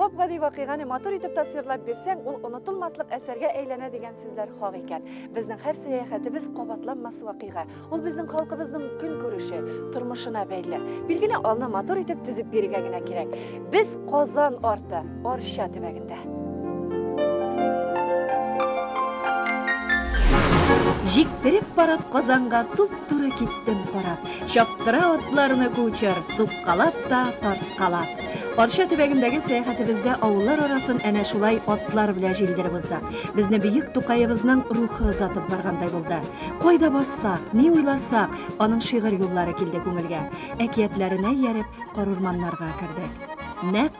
Гап-гади вакыйганы матур итеп тасвирлап бирсәң, ул онытылмаслык әсәргә әйләнә дигән сүзләр хак икән. Безнең һәр сәяхәтебез кабатланмас вакыйга. Ул безнең халкыбызның көн күреше, тормышына бәйле. Билгеле, алны матур итеп тезеп бирергә генә кирәк. Без Казан арты, Арча төбәгенә. китте. Җиктереп барып Казанга туп-туры киттем карап. Чаптыра атларны кучер, суккалап та, тарткалап. Арча төбәгендәге сәяхәтебездә авыллар арасын әнә шулай атлар белән җилдереп уздык. Безне бөек Тукаебызның рухы озатып баргандай булды. Кайда бассак, ни уйласак, аның шигырь юллары килде күңелгә. Әкиятләренә ияреп, карурманнарга кердек. Нәкъ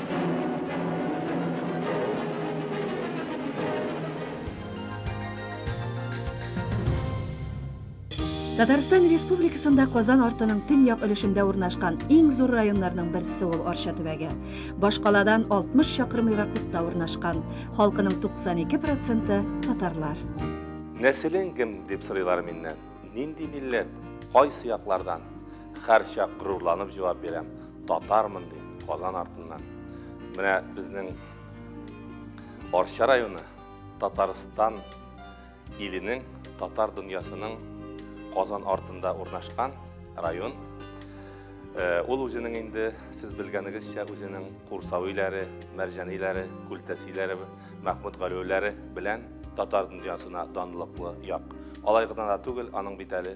Татарстан Республикасында Казан артының төньяк өлешендә урнашкан иң зур районнарның берсе ул Арча төбәге. Башкаладан 60 чакрым ераклыкта урнашкан. Халкының 92% татарлар. Нәселең кем дип сорыйлар миннән. Нинди милләт? Кайсы яклардан? Һәрчак горурланып җавап бирәм. Татармын ди, Казан артыннан. Менә безнең Арча районы Татарстан иленең, татар дөньясының Казан артында урнашкан район. Э, ул үзенең инде сез белгәнегезчә үзенең Курсавиләре, Мәрҗәниләре, Күлтәсиләре, Мәхмүд Галиуләре белән татар дөньясына данлыклы як. Алай гына да түгел, аның бит әле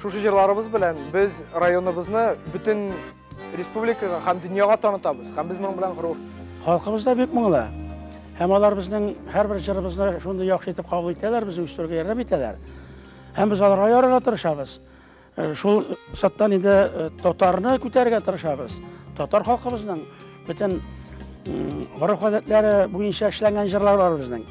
Шушы җырларыбыз белән без районыбызны бөтен республикага һәм дөньяга танытабыз. Һәм без моның белән горур. Халкыбыз да бик моңлы. Һәм алар безнең һәрбер җырыбызны шундый яхшы итеп кабул итәләр, безне үстерергә ярдәм итәләр. Һәм без аларга ярарга тырышабыз. Э, шул саттан инде э, татарны күтәрергә тырышабыз. Татар халкыбызның Бөтен гореф-гадәтләре буенча эшләнгән җырлар бар безнең.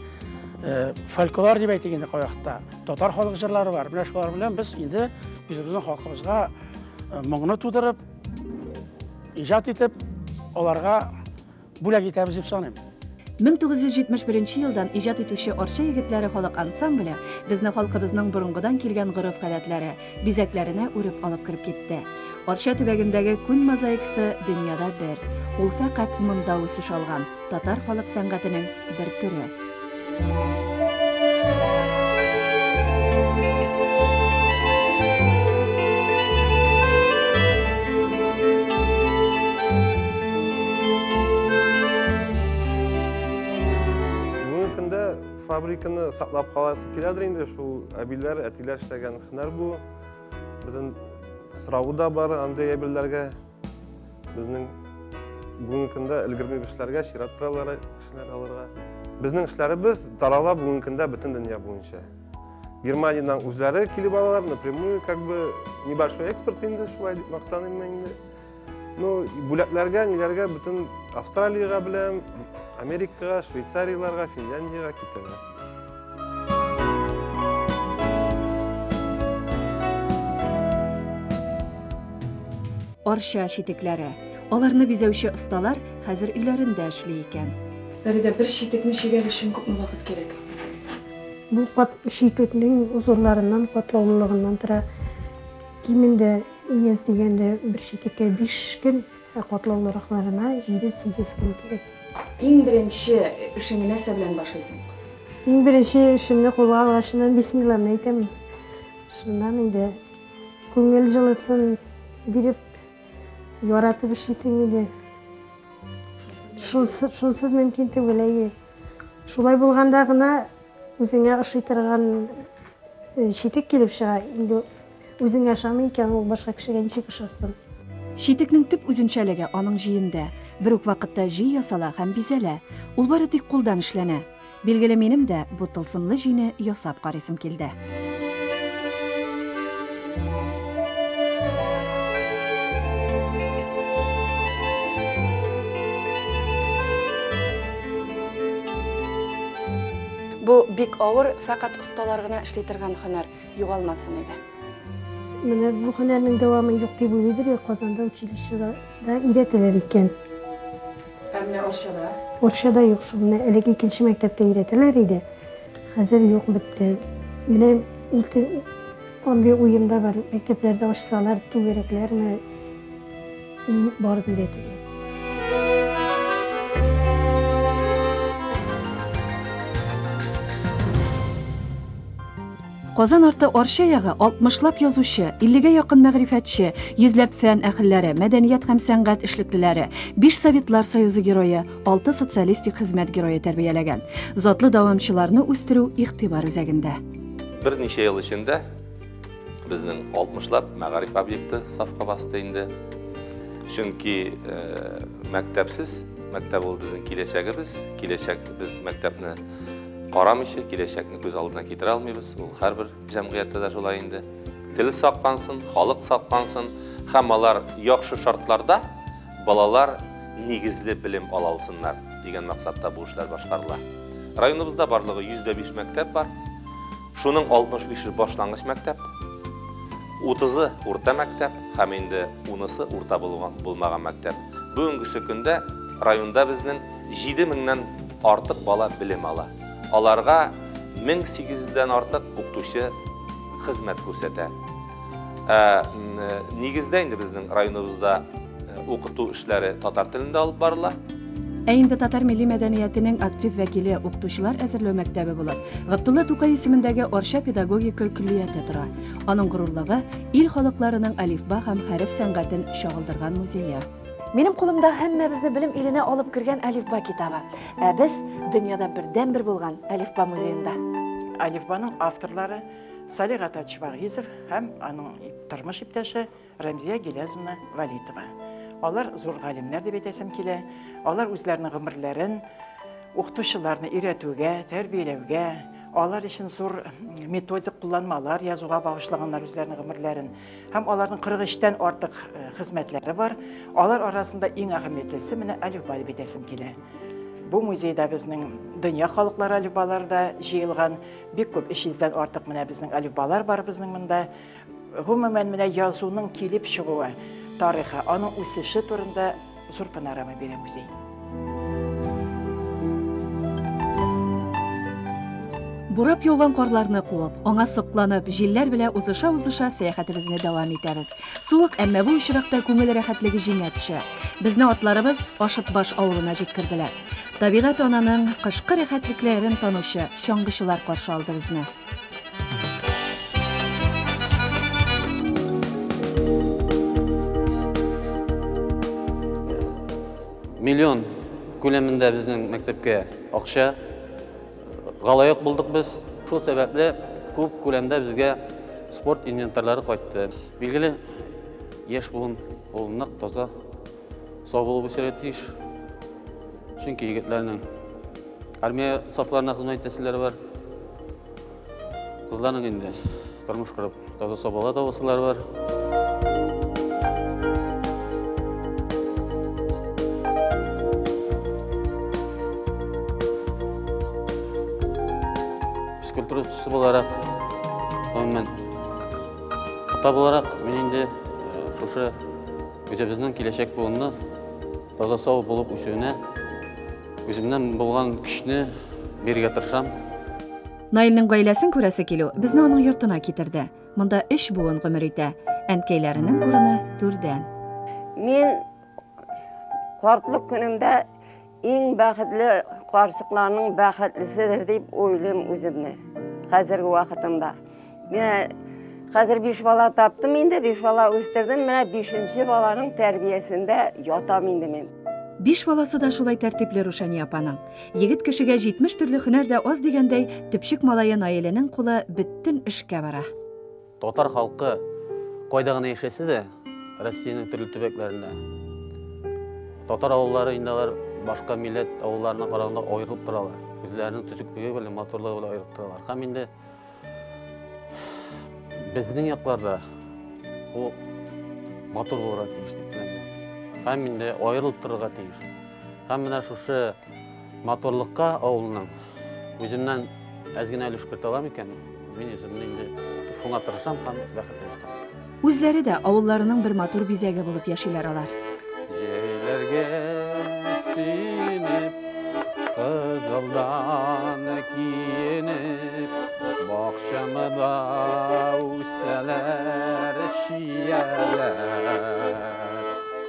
Э, фольклор дип әйтик инде кайвакытта. Татар халык җырлары бар. Менә шулар белән без инде үзебезнең халкыбызга э, моңны тудырып, иҗат итеп, аларга бүләк итәбез дип саныйм. 1971 елдан иҗат итүче Арча егетләре халык ансамбле безне халкыбызның борынгыдан килгән гореф-гадәтләре, бизәкләренә үреп алып кереп китте. Арча төбәгендәге күн мозаикасы дөньяда бер. Ул фәкать монда үсеш алган, татар халык сәнгатенең бер төре. Фабриканы саклап каласы киләдер инде, шул әбиләр, әтиләр эшләгән һөнәр бу. Безнең сорау да бар андый әбиләргә. Безнең бүгенге көндә өлгерми эшләргә, чират торалар кешеләр алырга. Безнең эшләребез тарала бүгенге көндә бөтен дөнья буенча. Германиядән үзләре килеп алалар, напрямую, как бы небольшой экспорт инде, шулай дип мактаныйм инде. Ну, бүләкләргә, ниләргә бөтен Австралиягә беләм, Америкага, Швейцарияләргә, Финляндиягә китәләр. Арча читекләре. Аларны бизәүче осталар хәзер өйләрендә эшли икән. Фәридә, бер читекне чигәр өчен күпме вакыт кирәк? Бу кат читекнең озынларыннан, катлаулылыгыннан тора. Кимендә Ияз дигәндә бер читеккә биш көн, ә катлаулы ракларына җиде-сигез көн кирәк. Иң беренче эшеңне нәрсә белән башлыйсың? Иң беренче эшемне кулга алгачыннан бисмилланы әйтәм. Шуннан инде күңел җылысын биреп, яратып эшлисең инде. Шунсыз, шунсыз мөмкин түгел, әйе. Шулай булганда гына үзеңә ошый торган читек килеп чыга. Инде Үзеңә ышанмый икән ул, башка кешегә ничек ышасын? Читекнең төп үзенчәлеге аның җөендә. Бер үк вакытта җөй ясала һәм бизәлә. Ул бары тик кулдан эшләнә. Билгеле, минем дә бу тылсымлы җөйне ясап карыйсым килде. Бу бик авыр, фәкать осталар гына эшли торган һөнәр. Югалмасын иде. Менә бу һөнәрнең дәвамы юк дип уйлыйдыр, я Казанда училищеда да өйрәтәләр икән. Ә менә Арчада? Арчада юк шул. Менә элек икенче мәктәптә өйрәтәләр иде. Хәзер юк бетте. Менә ике андый уем да бар. Мәктәпләрдә ачсалар түгәрәкләрме? Ул бар белә диде. Казан арты Арча ягы 60лап язучы, 50гә якын мәгърифәтче, йөзләп фән әхелләре, мәдәният һәм сәнгать эшлеклеләре, 5 Советлар Союзы герое, 6 социалистик хезмәт герое тәрбияләгән. Затлы дәвамчыларны үстерү игътибар үзәгендә. Берничә ел эчендә Безнең 60лап мәгариф объекты сафка басты инде. Чөнки э, мәктәпсез, мәктәп ул безнең киләчәгебез, киләчәк без мәктәпне карамыйча, киләчәкне күз алдына китерә алмыйбыз. Ул һәрбер җәмгыятьтә дә шулай инде. Тел саклансын, халык саклансын һәм алар яхшы шартларда балалар нигезле белем ала алсыннар дигән максатта бу эшләр башкарыла. Районыбызда барлыгы 105 мәктәп бар. Шуның 65-е башлангыч мәктәп, 30-ы урта мәктәп һәм инде унысы урта булган булмаган мәктәп. Бүгенгесе көндә районда безнең 7 меңнән артык бала белем ала. Аларга 1800 дән артык укытучы хезмәт күрсәтә. Ә нигездә инде безнең районыбызда укыту эшләре татар телендә алып барыла. Ә инде татар милли мәдәниятенең актив вәкиле укытучылар әзерләү мәктәбе булып, Габдулла Тукай исемендәге Арча педагогика көллияте тора. Аның горурлыгы, ил халыкларының алифба һәм хәреф сәнгатен чагылдырган музее. Минем кулымда һәммәбезне белем иленә алып кергән Алифба китабы. Ә без дөньяда бердәнбер булган Алифба музеенда. Алифбаның авторлары Салих Атач Вагизов һәм аның тормыш иптәше Рәмзия Гилязовна Валитова. Алар зур галимнәр дип әйтәсем килә. Алар үзләренең гомерләрен укытучыларны өйрәтүгә, тәрбияләүгә, алар өчен зур методик кулланмалар язуга багышлаганнар үзләренең гомерләрен. Һәм аларның 43-тән артык э, хезмәтләре бар. Алар арасында иң әһәмиятлесе менә Алюба дип әйтәсем килә. Бу музейда безнең дөнья халыклары алюбалары да җыелган. Бик күп, 300 дән артык менә безнең алифбалар бар безнең монда. Гомумән, менә язуның килеп чыгуы тарихы, аның үсеше турында зур панорама бирә музей. Бурап яуган карларны куып, аңа сокланып, җилләр белә узыша-узыша сәяхәтебезне дәвам итәбез. Суык, әмма бу очракта күңел рәхәтлеге җиңә төшә. Безне атларыбыз Ашытбаш авылына җиткерделәр. Табигать ананың кышкы рәхәтлекләрен танучы чаңгычылар каршы алды безне. миллион күләмендә безнең мәктәпкә акча галаяк булдык без. Шул сәбәпле күп күләмдә безгә спорт инвентарьлары кайтты. Билгеле, яшь буын ул нык таза Сау булып үсәргә тиеш. Чөнки егетләрнең армия сафларына хезмәт итәселәре бар. Кызларның инде тормыш корып, таза сабала табасылары бар. Физкультура үсеше буларак, гомумән, ата буларак, мин инде шушы Үзебезнең киләчәк буынны таза сау булып үсүенә үземнән булган көчне бирергә тырышам. Наилнең гаиләсен күрәсе килү безне аның йортына китерде. Монда өч буын гомер итә. Әнкәйләренең урыны түрдән. Мин картлык көнемдә Иң бәхетле карчыкларның бәхетлеседер дип уйлыйм үземне хәзерге вакытымда. Менә хәзер биш бала таптым инде, биш бала үстердем, менә бишенче баланың тәрбиясендә ятам инде мин. Биш баласы да шулай тәртипле Рушания апаның. Егет кешегә 70 төрле һөнәр дә аз дигәндәй, төпчек малае Наиләнең кулы бөтен эшкә бара. Татар халкы кайда гына яшәсә дә, Россиянең төрле төбәкләрендә. Татар авыллары инде алар башка милләт авылларына караганда аерылып торалар. Үзләренең төзеклеге белән, матурлыгы белән аерылып торалар. Һәм инде безнең якларда ул матур булырга тиеш дип Һәм инде аерылып торырга тиеш. Һәм менә шушы Матурлыкка авылның үземнән әз генә өлеш керт алам икән, мин үземне инде шуңа тырышам һәм бәхетле итәм. Үзләре дә авылларының бер матур бизәге булып яшиләр алар. Җәйләргә синеп, кызылдан киенеп, бакчамда үсәләр чияләр.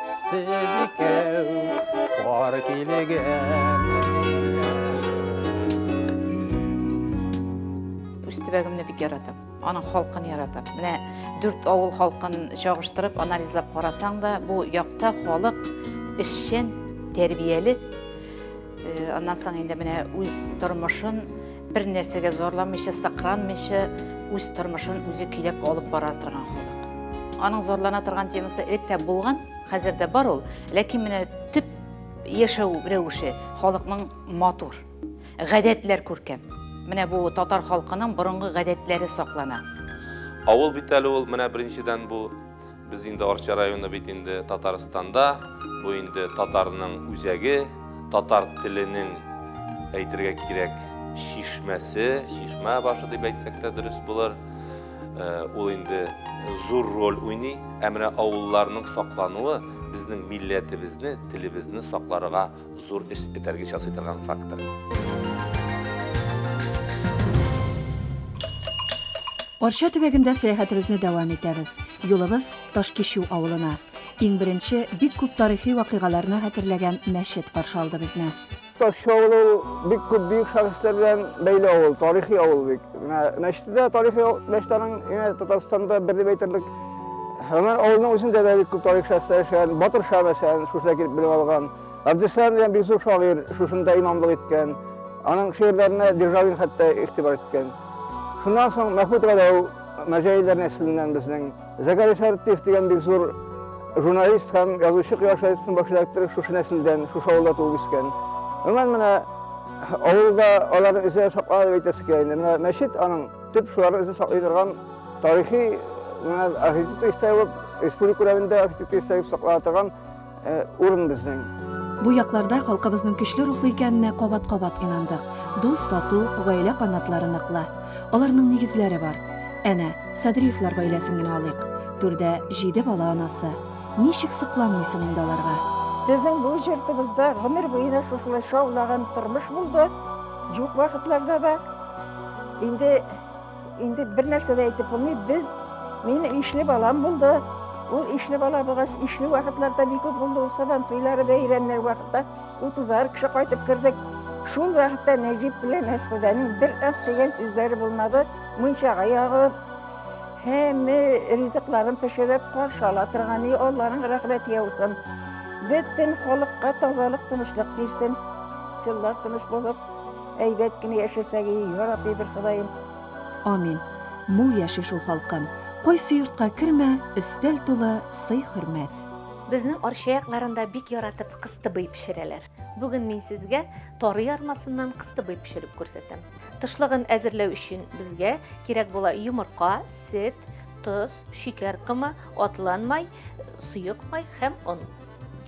Сез икәү кар үз төбәгемне бик яратам аның халкын яратам менә дүрт авыл халкын чагыштырып анализлап карасаң да бу якта халык эшчән тәрбияле Э, аннан соң инде менә үз тормышын бер нәрсәгә зорламыйча, сакранмыйча, үз тормышын үзе көйләп алып бара торган халык. Аның зарлана торган темасы элек тә булган, хәзер дә бар ул, ләкин менә төп яшәү рәвеше халыкның матур, гадәтләр күркәм. Менә бу татар халкының борынгы гадәтләре саклана. Авыл бит әле ул, менә беренчедән бу Без инде Арча районы бит инде Татарстанда, бу инде татарның үзәге, татар теленең әйтергә кирәк чишмәсе, чишмә башы дип әйтсәк тә дөрес булыр. Э, ул инде зур роль уйный. Ә менә авылларның саклануы безнең милләтебезне, телебезне сакларга Зур эш этәргеч ясый торган фактор. Арча төбәгендә сәяхәтебезне дәвам итәбез. Юлыбыз Ташкичү авылына. Иң беренче бик күп тарихи вакыйгаларны хәтерләгән мәчет каршы алды безне. Ташкичү авылы ул бик күп бөек шәхесләр белән бәйле авыл, тарихи авыл бик. Менә мәчете дә тарихи мәчет аның, Татарстанда бер дип әйтерлек. Һәмән авылның үзендә дә бик күп тарих шәхесләр яшәгән. Батыр Ша мәсәлән, шушында килеп белем алган. Абдислам дигән бик зур шагыйрь шушында имамлык иткән. Аның шигырьләренә Державин хәтта игътибар иткән. Шуннан соң Мәхмүт Галәү мәҗәйләр нәселеннән безнең. Зәкәри Сәртиев дигән бик зур журналист һәм язучы Кыяшайсын баш редакторы шушы нәселдән, шушы авылда туып үскән. Гомумән менә авылда аларны эзләп саклана дип әйтәсе килә инде. Менә мәчет аның Төп шуларны үзе саклый торган тарихи архитектура истәлеп, республика күләмендә архитектура истәлеп саклана торган урын безнең. Бу якларда халкыбызның көчле рухлы икәненә кабат-кабат инандык. Дус, тату, гаилә канатлары ныклы. Аларның нигезләре бар. Әнә, Садриевлар гаиләсен генә алыйк. Түрдә җиде бала анасы. Ничек сокланмыйсың инде аларга? Безнең бу җортыбызда гомер буена шушылай шаулаган тормыш булды. Юк вакытларда да Инде инде бер нәрсә дә әйтеп булмый. Без мин ишле балам булды. Ул ишле бала булгач, ишле вакытларда бик күп булды. Ул сабан туйлары бәйрәмнәр вакытта 30 кеше кайтып кердек. Шул вакытта Нәҗип белән Әсхудәнең бер ат дигән сүзләре булмады. Мунчага ягып, һәм ризыкларын пешереп каршы ала торган и Алланың рәхмәте яусын. Бөтен халыкка тазалык, тынычлык бирсен. Җыллар тыныч булып, Әйбәт кенә яшәсәгез, ярабби бер Ходаем. Амин. Мул яши шул халкым. Кайсы йортка кермә, өстәл тулы сый-хөрмәт. Безнең Арча якларында бик яратып кыстыбый пешерәләр. Бүген мин сезгә тары ярмасыннан кыстыбый пешереп күрсәтәм. Тышлыгын әзерләү өчен безгә кирәк була йомырка, сөт, тоз, шикәр комы, атланмай, суыкмай һәм он.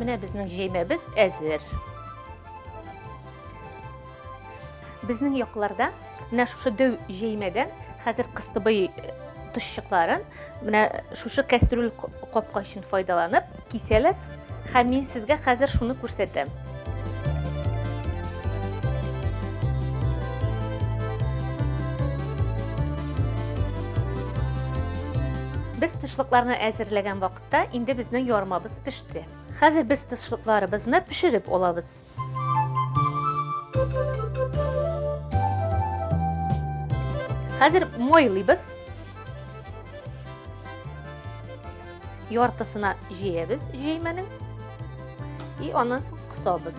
Менә безнең җәймәбез әзер. Безнең якларда менә шушы дөв җәймәдән хәзер кыстыбый тышчыкларын менә шушы кәстрүл капка өчен файдаланып Кисәләр, һәм мин сезгә хәзер шуны күрсәтәм. Без тышлыкларны әзерләгән вакытта инде безнең ярмабыз пеште. Хәзер без тышлыкларыбызны пешереп алабыз. Хәзер майлыйбыз. Яртысына җыябыз җәймәнең. И аннан соң кысабыз.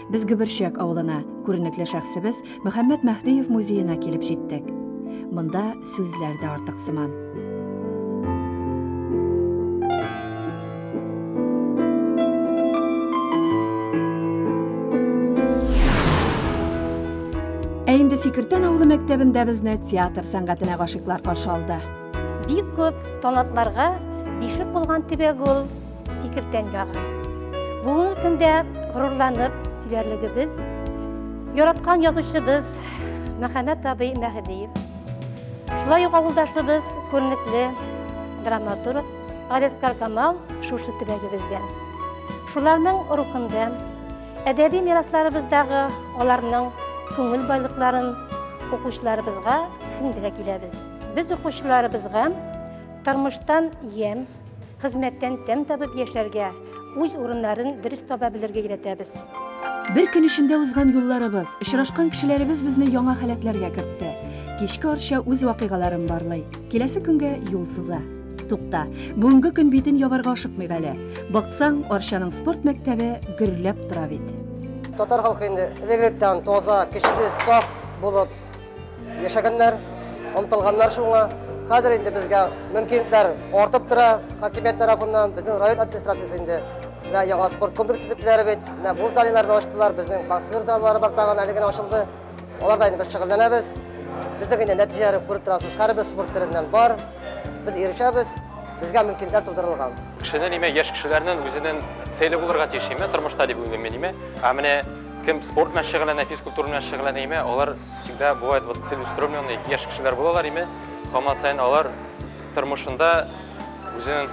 Без Гөберчәк авылына, күренекле шәхсебез Мөхәммәт Мәһдиев музеена килеп җиттек. Монда сүзләр дә артык сыман. Ә инде Сикертән авылы мәктәбендә безне театр сәнгатенә гашыйклар каршы алды. Бик күп талантларга бишек булган төбәк ул. Сикертән ягы. Бүгенге көндә горурланып сөйләрлегебез, яраткан язучыбыз Мәхәмәт абый Мәһдиев. Шулай ук авылдашыбыз күренекле драматург Арес Каркамал шушы төбәгебездә. Шуларның рухында әдәби мирасларыбыздагы аларның күңел байлыкларын укучыларыбызга сеңдерә киләбез. Без укучыларыбызга тормыштан ем, Хезмәттән тәм табып яшәргә, үз урыннарын дөрес таба белергә өйрәтәбез. Бер көн эчендә узган юлларыбыз, очрашкан кешеләребез безне яңа халәтләргә кертте. Кичке Арча үз вакыйгаларын барлый. Киләсе көнгә юл сыза. Тукта, бүгенге көн битен ябарга ашыкмыйк әле. Баксаң, Арчаның спорт мәктәбе гөрләп тора бит. Татар халкы инде элек-электән таза, көчле, саф булып Яшәгәннәр, омтылганнар шуңа. Хәзер инде безгә мөмкинлекләр артып тора хакимият тарафыннан, безнең район администрациясе инде менә яңа спорт комплексы дип беләр бит. Менә бу зданиеләрне ачтылар, безнең боксер заллары бар тагын әле генә ачылды. Аларда инде без шөгыльләнәбез. Безнең инде нәтиҗәләре күреп торасыз, һәрбер спорт төреннән бар. Без ирешәбез, безгә мөмкинлекләр тудырылган. Кешенең ниме яшь кешеләрнең үзенең цели булырга тиеш име тормышта дип уйлыйм мин име. Ә менә Кем спорт белән шөгыльләнә, физкультура белән шөгыльләнә име, алар всегда бывает вот целеустремленный яшь кешеләр булалар име, һаман саен алар тормышында үзен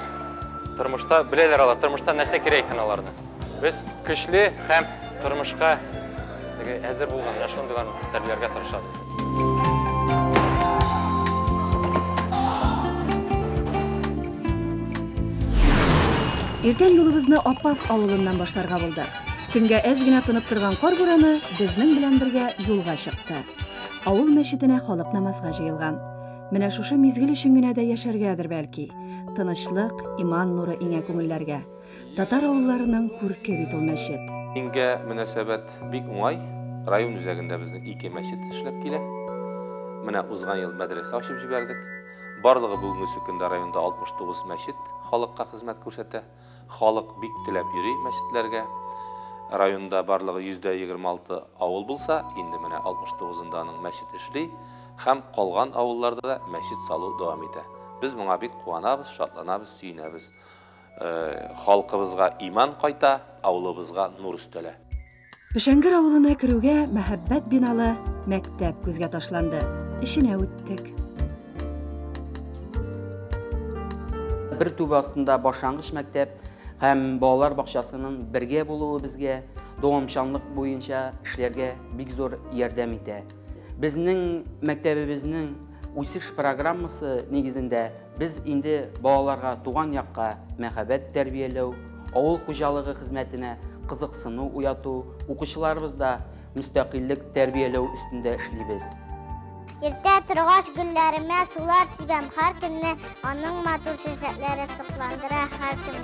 тормышта беләләр алар, тормышта нәрсә кирәк икән аларны. Без көчле һәм тормышка теге әзер булган менә шундыйларны тәрбияләргә тырышабыз. Иртән юлыбызны Апас авылыннан башларга булдык. Төнгә әз генә тынып торган кар бураны безнең белән бергә юлга чыкты. Авыл мәчетенә халык намазга җыелган. Менә шушы мизгел өчен генә дә яшәргәдер, бәлки. Тынычлык, иман нуры иңә күңелләргә. Татар авылларының күрке бит ул мәчет. Дингә мөнәсәбәт бик уңай. Район үзәгендә безнең ике мәчет эшләп килә. Менә узган ел мәдрәсә ачып җибәрдек. Барлыгы бүгенге сөкендә районда 69 мәчет халыкка хезмәт күрсәтә. Халык бик теләп йөри мәчетләргә. Районда барлыгы 26 авыл булса, инде менә 69-ында аның мәчет эшли һәм калган авылларда да мәчет салу дәвам итә. Без моңа бик куанабыз, шатланабыз, сөенәбез. Халкыбызга иман кайта, авылыбызга нур өстәлә. Пешәнгер авылына керүгә мәһәббәт биналы мәктәп күзгә ташланды. Эченә үттек. Бер түбә астында башлангыч мәктәп һәм балалар бакчасының бергә булуы безгә дәвамчанлык буенча эшләргә бик зур ярдәм итә. Безнең мәктәбебезнең үсеш программасы нигезендә Без инде балаларга туган якка мәхәббәт тәрбияләү, авыл хуҗалыгы хезмәтенә кызыксыну уяту, укучыларыбызда мөстәкыйльлек тәрбияләү өстендә эшлибез. Иртә торгач гөлләремә сулар сибәм һәр көнне, аның матур чәчәкләре сокландыра һәр көнне.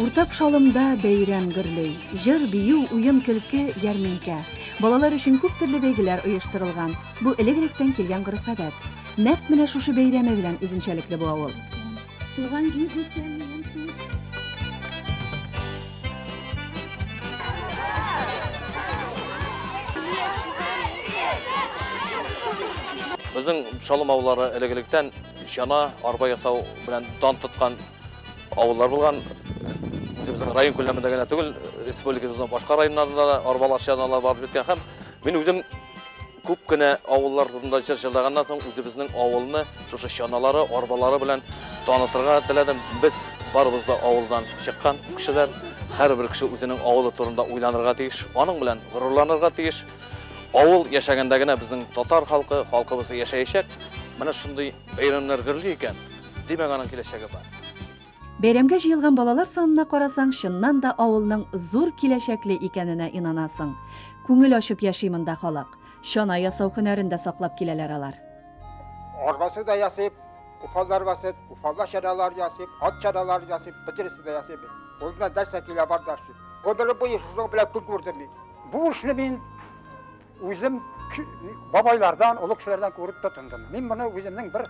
Уртак шалымда бәйрәм гөрли. Җыр, бию, уен-көлке, ярминкә. Балалар өчен күп төрле бәйгеләр оештырылган. Бу элек-электән килгән гореф-гадәт. Нәкъ менә шушы бәйрәме белән үзенчәлекле бу авыл. Туган җир дисәм, минем син. Безнең Шалым авыллары элек-электән чана, арба ясау белән дан тоткан авыллар булган. Үзебезнең район күләмендә генә түгел, республикабызның башка районнарында да арбалар, чаналар барып җиткән һәм мин үзем Күп кенә авыллар турында җыр җырлаганнан соң, үзебезнең авылны шушы чаналары, арбалары белән танытырга теләдем. Без барыбыз да авылдан чыккан кешеләр. Һәрбер кеше үзенең авылы турында уйланырга тиеш, аның белән горурланырга тиеш. Авыл яшәгәндә генә безнең татар халкы, халкыбыз яшәячәк. Менә шундый бәйрәмнәр гөрли икән, димәк, аның киләчәге бар. Бәйрәмгә җыелган балалар санына карасаң, чыннан да авылның зур киләчәкле икәненә инанасың. Күңел ачып яши монда халык. Чана ясау һөнәрен дә саклап киләләр алар. Арбасы да ясыйб, уфалар басып, уфала чаралар ясыйб, ат чаралар ясыйб, бөтенесе дә ясыйб. Ул белән дәрсә килә бар да. Гомере буе шуның белән көн күрдем мин. Бу эшне мин Үзем бабайлардан, олы кешеләрдән күреп тотындым. Мин моны үземнең бер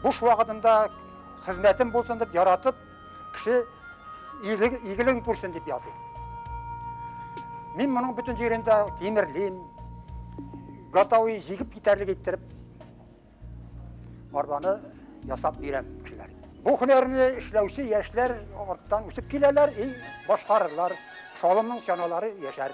буш вакытымда хезмәтем булсын дип яратып, кеше игелеген күрсен дип языйм. Мин моның бөтен җирендә тимерлим, готовый җигеп китәрлек иттереп арбаны ясап бирәм кешеләр. Бу һөнәрне эшләүче яшьләр арттан үсеп киләләр и башкарырлар, салымның чаналары яшәр.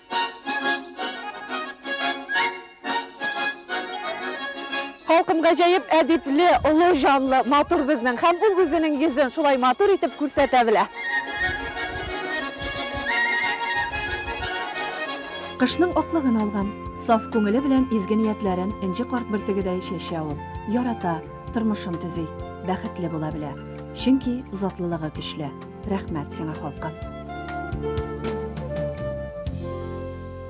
Халкым гаҗәеп әдипле, олы җанлы, матур безнең. Һәм ул үзенең йөзен шулай матур итеп күрсәтә белә. Кышның аклыгын алган, саф күңеле белән изге ниятләрен энҗе карт бөртегедәй чәчә ул. Ярата, тормышын төзи, бәхетле була белә. Чөнки затлылыгы көчле. Рәхмәт сиңа, халкым!